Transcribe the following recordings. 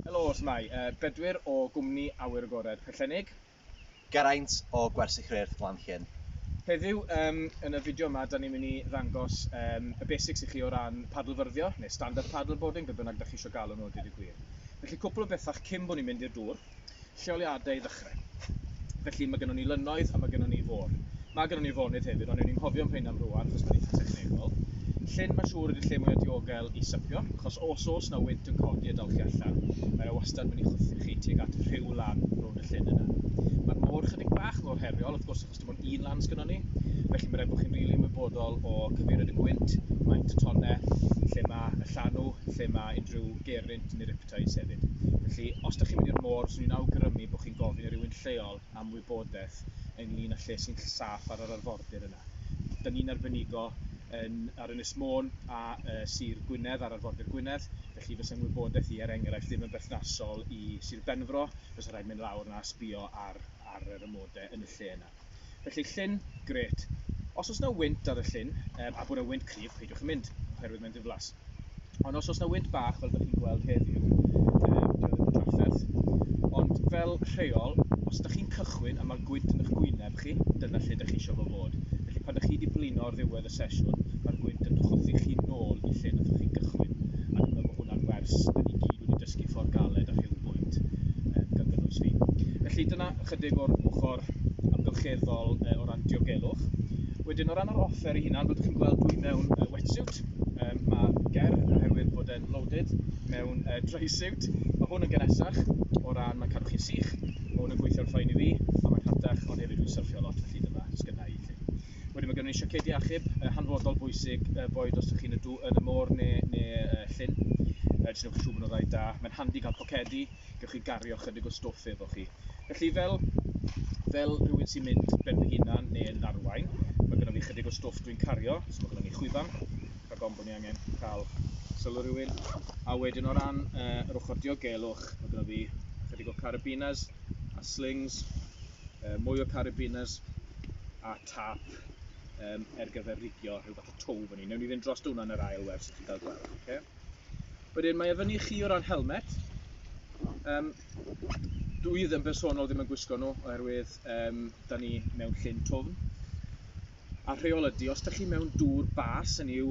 Helo, shwmae, yy Bedwyr o gwmni Awyr Agored Pwllheli. Geraint o Gwersyll Rheirth Glanllyn. Heddiw yym yn y fideo yma dan ni'n mynd i ddangos yym y basics i chi o ran padlfyrddio neu stand-up paddleboarding be bynnag dach chi isio galw nhw a dweud y gwir. Felly cwpwl o bethau cyn bo' ni'n mynd i'r dŵr. lleoliadau i ddechrau. Felly, mae gynnon ni lynnoedd a mae gynnon ni fôr. Mae gynnon ni fonydd hefyd, ond ewn ni'n hofio am rhain am rwan, achos mae'n eitha technegol. Llyn, mae'n siŵr, ydy'r lle mwyaf diogel i sypio, achos os oes na wynt yn codi a dal chi allan, mae yna wastad mynd i chwythu chi tuag at rhyw lan rownd y llyn yna. Mae'r môr chydig bach mor heriol, wrth gwrs, achos dim ond un lan sgynnon ni, felly mae rhaid bod chi'n rili really ymwybodol o cyfeiriad y gwynt, maint y tonne, lle mae y llanw, lle mae unrhyw gerint neu rip Cymdeithas hefyd. Felly, os dych chi'n mynd i'r môr, swn i'n awgrymu bod chi'n gofyn i rywun lleol am wybodaeth ynglyn â lle sy'n saff ar yr arfordir yna. Dyn ni'n arbenigo yn, ar Ynys Môn a uh, Sir Gwynedd, ar arfordir Gwynedd, felly fysa'n wybodaeth i, er enghraifft, ddim yn berthnasol i Sir Benfro, fysa rhaid mynd lawr yna a sbio ar, ar yr amodau yn y lle yna. Felly llyn, grêt. Os oes 'na wynt ar y llyn, a bod 'na wynt cryf, peidiwch â mynd, oherwydd mae'n ddiflas. Ond os oes 'na wynt bach, fel ydych chi'n gweld heddiw, ond fel rheol, os ydych chi'n cychwyn a mae gwynt yn eich gwyneb chi, dyna lle ydych chi eisiau fo fod. Felly pan ydych chi wedi blino ar ddiwedd y sesiwn, mae'r gwynt yn chwythu chi nôl i lle nathoch chi gychwyn, a dwi'n meddwl bod hwnna'n wers, da ni gyd wedi dysgu ffordd galed a rhyw bwynt, um, gan gynnwys fi. Felly dyna ychydig o'r ochr amgylcheddol uh, o ran diogelwch. Wedyn o ran yr offer i hunan, byddwch chi'n gweld dwi mewn uh, wetsuit, um, mae ger oherwydd bod e'n loaded mewn uh, dry suit. Mae hwn yn gynesach o ran mae'n cadw chi'n sych, mae hwn yn gweithio'n ffain i fi, a mae'n rhatach ond hefyd dwi'n syrffio lot felly dyma sgynnau i chi. Wedyn mae gynnon ni siocedi achub, yy hanfodol bwysig, yy boed os ydych chi'n y dŵ- yn y môr neu neu yy llyn, yy jyst newch yn siŵr bod nhw'n rhaid da. Mae'n handi cael pocedi, gewch chi gario chydig o stwff efo chi. Felly fel fel rhywun sy'n mynd ben fy hunan neu yn arwain, mae gynnon ni chydig o stwff dwi'n cario, so mae gynnon ni chwifan, rhag ofn bod ni angen cael sylw rhywun. A wedyn o ran yy yr ochr diogelwch, mae gynnon ni chydig o carabiners a slings, uh, mwy o carabiners a tap um, er gyfer rigio rhyw fath o tow fan hyn. Newn ni fynd dros hwnna yn yr ail wers i chi gael gweld. Okay? Wedyn mae e fyny chi o ran helmet. Um, dwi ddim bersonol ddim yn gwisgo nhw oherwydd um, da ni mewn llyn twfn. a rheol ydy, os dych chi mewn dŵr bas yn yw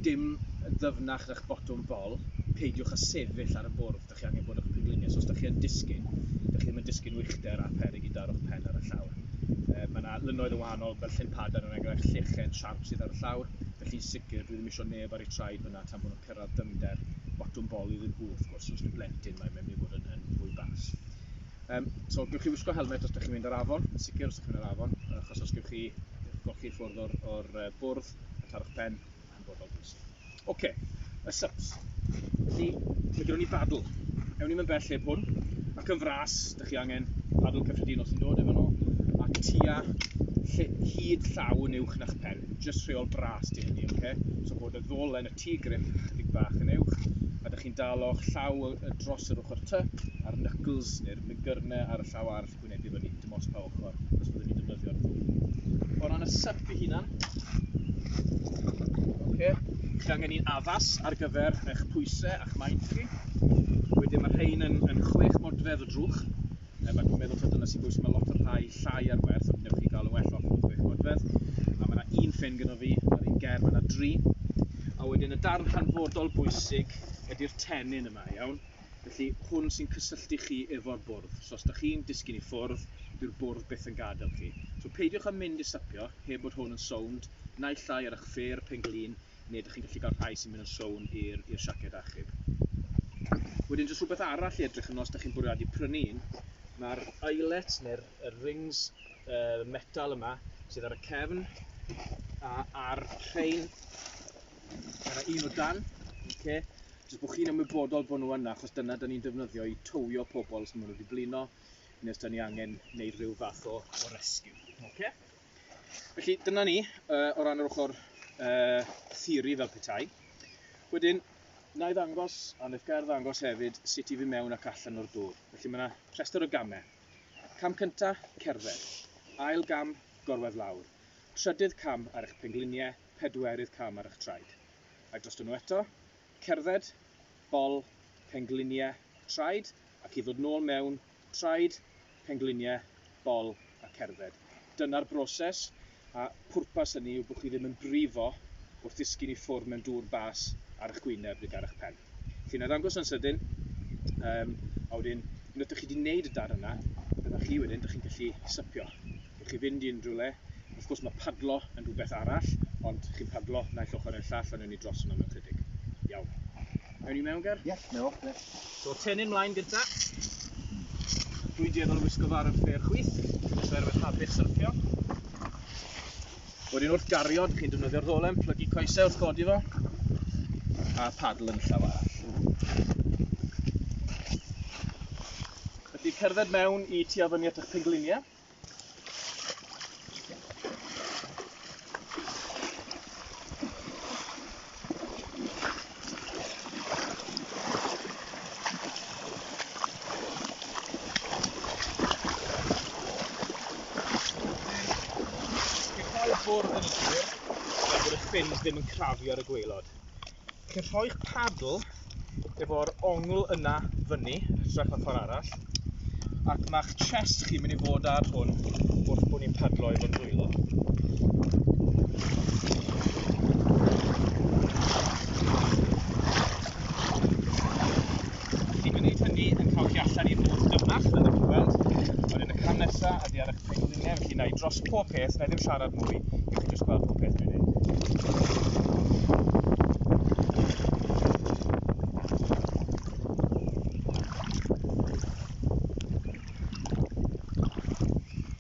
dim yn ddyfnach na'ch botwm bol, peidiwch â sefyll ar y bwrdd, dych chi angen bod o'ch pengliniau, so os dych chi yn disgyn, dych chi ddim yn disgyn uchder a pheryg i daro'ch pen ar y llawr. E, mae yna lynoedd o wahanol, fel llyn padan yn enghraifft llechen siarp sydd ar y llawr, felly'n sicr dwi ddim eisiau neb ar ei traed fyna tan bod nhw'n cyrraedd dyfnder botwm bol iddyn nhw, wrth gwrs, os yw blentyn mae'n mynd i fod yn, yn fwy bas. Um, so, gwych chi wisgo helmet os ydych chi'n mynd ar afon, yn sicr os ydych chi'n mynd ar afon, achos os gwych chi golchi ffwrdd o'r, or bwrdd, a tarwch pen, yn bod o'n bwysig. Oce, okay. y subs. Felly, mae gyda ni badl. Ewn ni'n bell heb hwn, ac yn fras, ydych chi angen padl cyffredinol sy'n dod efo nhw, ac tua hyd llaw yn uwch na'ch pen, jyst rheol bras di hynny, oce? Okay? So bod y ddolen y tŷ grip ychydig bach yn uwch, a dych chi'n dal o'ch llaw dros yr ochr ty, a'r knuckles, neu'r migyrne ar y llaw arall yn gwynebu fyny, dim os pa ochr, os byddwn ni'n defnyddio'r ddwy. O ran y syp i hunan, okay, chi angen un addas ar gyfer eich pwysau a'ch maint chi. Wedyn mae rhain yn, yn chwech modfedd o drwch, Mae nhw'n meddwl taw dyna sy'n bwysig, mae lot o'r rhai llai ar werth, ond newch chi gael yn well off yn chwech modfedd. A mae yna un ffyn gyda fi, mae'r un ger, mae yna dri. A wedyn y darn hanfodol bwysig ydy'r tenyn yma, iawn? Felly hwn sy'n cysylltu chi efo'r bwrdd. So os da chi'n disgyn i ffwrdd, dyw'r bwrdd byth yn gadael chi. So peidiwch â mynd i sypio heb bod hwn yn sownd, naill llai ar eich ffêr, pen glin, neu ydych chi'n gallu cael rhai sy'n mynd yn sownd i'r siaced achub. Wedyn jyst rhywbeth arall i edrych yn os ydych chi'n bwriadu prynu un, mae'r eyelet neu'r er rings uh, metal yma sydd ar y cefn a ar rhain ar y un o dan, okay? jyst bod chi'n ymwybodol bod nhw yna achos dyna da ni'n defnyddio i towio pobl os maen nhw wedi blino neu os da ni angen wneud rhyw fath o, o rescue. Okay? Felly dyna ni uh, o ran yr ochr uh, theori fel petai. Wedyn, na i ddangos, a wnaeth gair ddangos hefyd, sut i fi mewn ac allan o'r dŵr. Felly mae yna rhestr o gamau. Cam cynta, cerdded. Ail gam, gorwedd lawr. Trydydd cam ar eich pengliniau, pedwerydd cam ar eich traed. Ai dros nhw eto, cerdded, bol, pengliniau, traed, ac i ddod nôl mewn Traed, pengliniau, bol a cerdded. Dyna'r broses, a phwrpas hynny yw bod chi ddim yn brifo wrth ddisgyn i ffwrdd mewn dŵr bas ar eich gwyneb nid ar eich pen. Chi'n arddangos yn sydyn, um, a wedyn, unwaith ydych chi wedi gwneud y dar yna, dyna chi wedyn, ydych chi'n gallu sypio. i chi fynd i unrhyw le. Wrth gwrs mae padlo yn rhywbeth arall, ond chi'n padlo naill ochr neu'r llall a newn ni dros hwnna mewn chydig. Iawn. Ewn ni mewn, Ger? Ie, yeah, mewn, ie. Yeah. So, tenyn mlaen gynta. Dwi'n dueddol o wisgo fo ar y ffeir chwith, oherwydd habit syrffio. Wedyn wrth gario, dych chi'n defnyddio'r ddolen, plygu coesau wrth godi fo, a padl yn llaw arall. Felly cerdded mewn i tu a fyny at eich pengliniau. ffordd yn y tir, gan bod y ffyn ddim yn crafu ar y gwaelod. Chi'n rhoi'ch paddle efo'r ongl yna fyny, hytrach na ffordd arall, ac mae'ch chest chi'n mynd i fod ar hwn wrth bod ni'n padlo efo'n dwylo. Felly mae'n neud hynny yn cael chi allan i'r môr dynach, fel ydych chi'n gweld. Wedyn y cam nesa ydy ar eich pengliniau, felly na i dros pob peth, na i ddim siarad mwy, i chi jyst gweld pob peth dwi'n neud.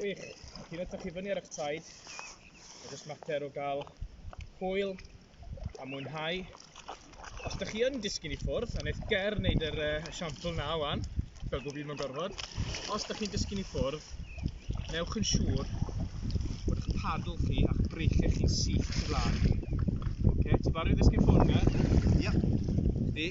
Gwych. Ac un ydych chi fyny ar eich taid, mae jyst mater o gael hwyl a mwynhau. Os ydych chi yn disgyn i ffwrdd, a wneud ger wneud yr uh, siampl na wan, fel bod fi mewn gorfod, os ydych chi'n disgyn i ffwrdd, newch yn siŵr bod eich padl chi a'ch breichiau chi'n syth i flaen. Oce, okay, ti barod i ddisgyn ffwrdd na? Ia. Di.